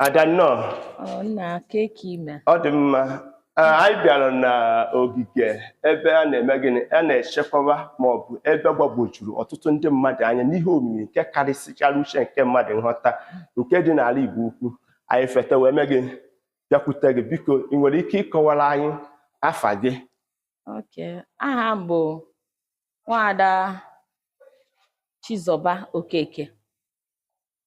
ada nnọọ Ọ nna kee ka ị mee. ọ dị mma Ah, anyị bịara n'ogige ebe a na-eme gịnị a na-echekwaba ma ọ bụ ebe gbagwojuru ọtụtụ ndị mmadụ anya n'ihe omimi nke karịsịchara uche nke mmadụ nghọta nke dị n'ala Igbo ukwu anyị feta wee mee gịnị bịakwute gị biko ị nwere ike ịkọwara anyị afa gị Okay. Aha m bụ Nwaada Chizọba Okeke.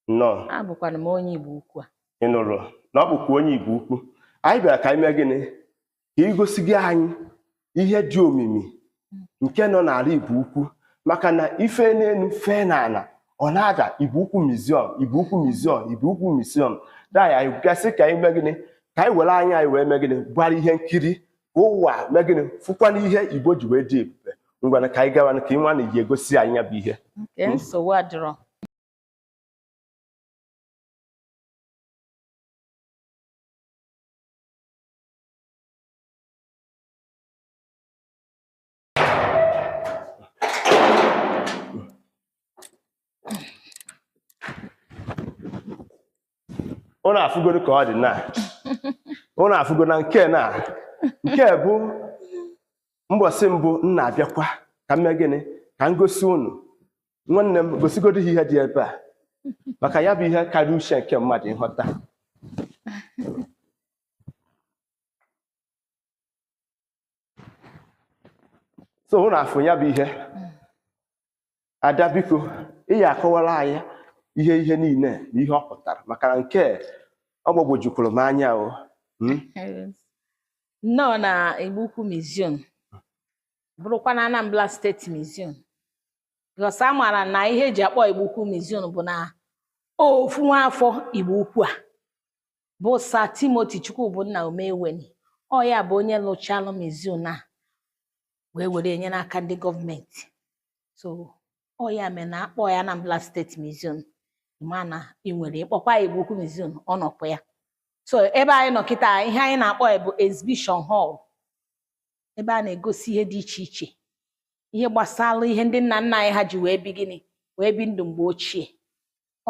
Nnọọ. Abụkwana m onye Igbo ukwu a. Ị nụrụ na ọ bụkwa onye Igbo ukwu. Anyị bịara ka anyị mee gịnị? Ka i gosiga anyị ihe dị omimi nke nọ n'ala Igbo ukwu maka na i fee n'elu fee n'ala ọ na-ada Igbo ukwu museum Igbo ukwu museum Igbo ukwu museum. Daa anyị gasị ka anyị mee gịnị? Ka anyị were anya anyị wee mee gịnị? Gbara ihe nkiri ụwa mee gịnị fụkwana ihe Igbo ji wee dị ebube ngwana ka anyị gawa ka ị nwa na ji egosi anyị ya bụ ihe nsogbu adịrọ ụnụ afụgoro ka ọ dị na ụnụ afụgo na nke na nke bụ mbọsị mbụ m na-abịakwa ka m mee gịnị ka m gosi ụnụ nwanne m gosigodo ihe dị ebe a maka ya bụ ihe karịa uche nke mmadụ ịghọta so ụnụ afụ ya bụ ihe ada biko ị ya-akọwara anyị ihe ihe niile na ihe ọ pụtara maka na nke ọ gbagwojukwuru m anya o hmm? nnọọ na Igbo Ukwu Museum bụrụkwa na Anambra State Museum because a maara na ihe e ji akpọ Igbo Ukwu Museum bụ na ofu nwa afọ Igbo Ukwu a bụ Sir Timothy Chukwubunna Umeweni ọ ya bụ onye lụchalụ museum a wee were nye n'aka ndị gọọmenti so ọ ya mere na-akpọ ya Anambra State museum mana ị nwere ịkpọkwa ya Igbo Ukwu museum ọ nọkwa ya so ebe anyị nọ kịta ihe anyị na-akpọ ya bụ exhibition hall ebe a na-egosi ihe dị iche iche ihe gbasara ihe ndị nna nna anyị ha ji wee bi gịnị wee bi ndụ mgbe ochie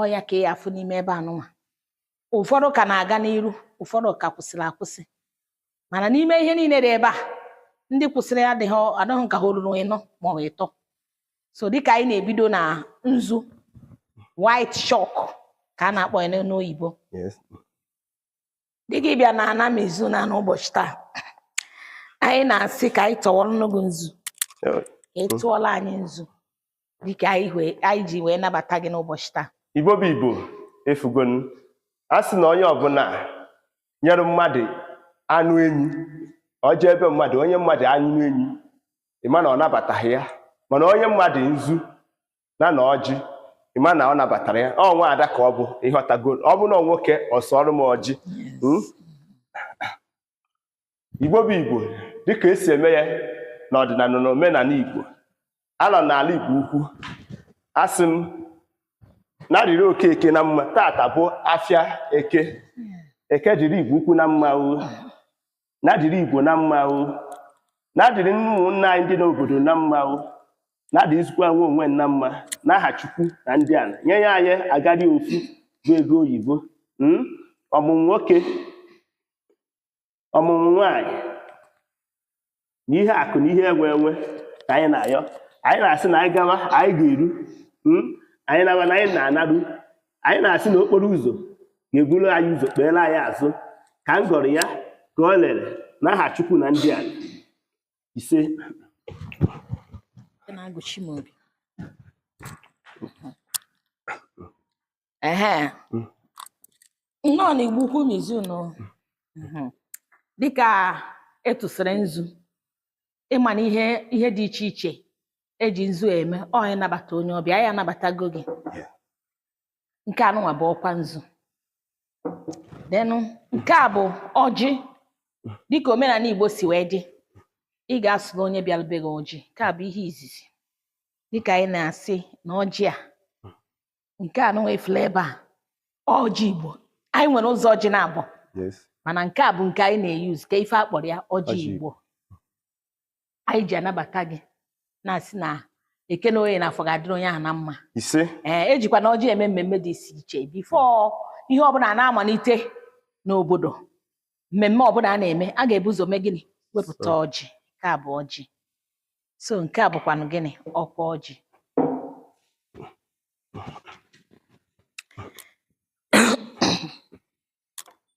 ọ ya ka ị ya-afụ n'ime ebe anụnwa ụfọdụ ka na-aga n'iru ụfọdụ ka kwụsịrị akwụsị mana n'ime ihe niile dị ebe a ndị kwụsịrị adịghị ka ha ruru ịnọ ma ọ bụ ịtọ so dịka anyị na-ebido na nzu white chalk ka a na-akpọ ya n'oyibo Yes. dịka ịbịa na ana museum a n'ụbọchị taa anyị na-asị ka anyị tụọrọnụ gị nzu Okay ị tụọla anyị nzu dịka anyị wee- anyị ji wee nabata gị n'ụbọchị taa igbo bụ igbo efugonu a sị na onye ọbụla nyere mmadụ anụ enyi ọ jee ebe mmadụ o nye mmadụ anụ enyi ịma na ọ nabataghị ya mana o nye mmadụ nzu na na ọjị ịma na ọ nabatara ya ọ nwa ada ka ọ bụ ịghọtago ọ bụ na ọ nwoke ọ sụọrọ m ọjị Mm? Igbo bụ Igbo dịka esi eme ya n'ọdịnala na omenala Igbo anọ n'ala Igbo ukwu asị m na dịrị oke eke na mma tata bụ afịa eke eke dịrị Igbo ukwu na mma o na dịrị Igbo na mma o na dịrị ụmụnna anyị ndị n'obodo na mma o na dịrịzikwa nwe onwe na mma n'aha Chukwu na ndị ala nye ya anyị agadi ofu bụ ego oyibo ọmụmụ nwoke ọmụmụ nwaanyị na ihe akụ na ihe enwe enwe ka anyị na-ayọ anyị na-asị na anyị gawa anyị ga-eru hmm? anyị naba na anyị na-anaru anyị na-asị na okporo ụzọ ga-eburu anyị ụzọ kpeere anyị azụ ka m gọrọ ya ka o lere n'aha Chukwu na ndị ala ise ehe Mm. nnọọ na igbo ukwu museum Mhm. dịka etụsịrị nzu ịma na ihe ihe dị iche iche eji nzu eme ọ ịnabata onye ọbịa anyị anabatago gị Yeah. nke anụnwa bụ ọkwa nzu denụ nke a bụ ọjị dịka omenala igbo si wee dị ị ga-asụrụ onye bịara be gị ọjị nke a bụ ihe izizi dịka anyị na-asị na ọjị a nke a nụnwa ị fụlụ ebe a ọjị igbo anyị nwere ụzọ ọjị naabọ yes mana nke a bụ nke anyị na-eyuz ka ife akpọrọ ya ọjị igbo anyị ji anabata gị na-asị na eke na oye na afọ ga-adịrị onye ahụ na mma ise ee ejikwa na ọjị eme mmemme dị iche iche before ihe ọbụla a na-amalite n'obodo mmemme ọbụla a na-eme a ga-ebu ụzọ mee gịnị wepụta ọjị nke a bụ ọjị so nke a bụkwanụ gịnị ọkwa ọjị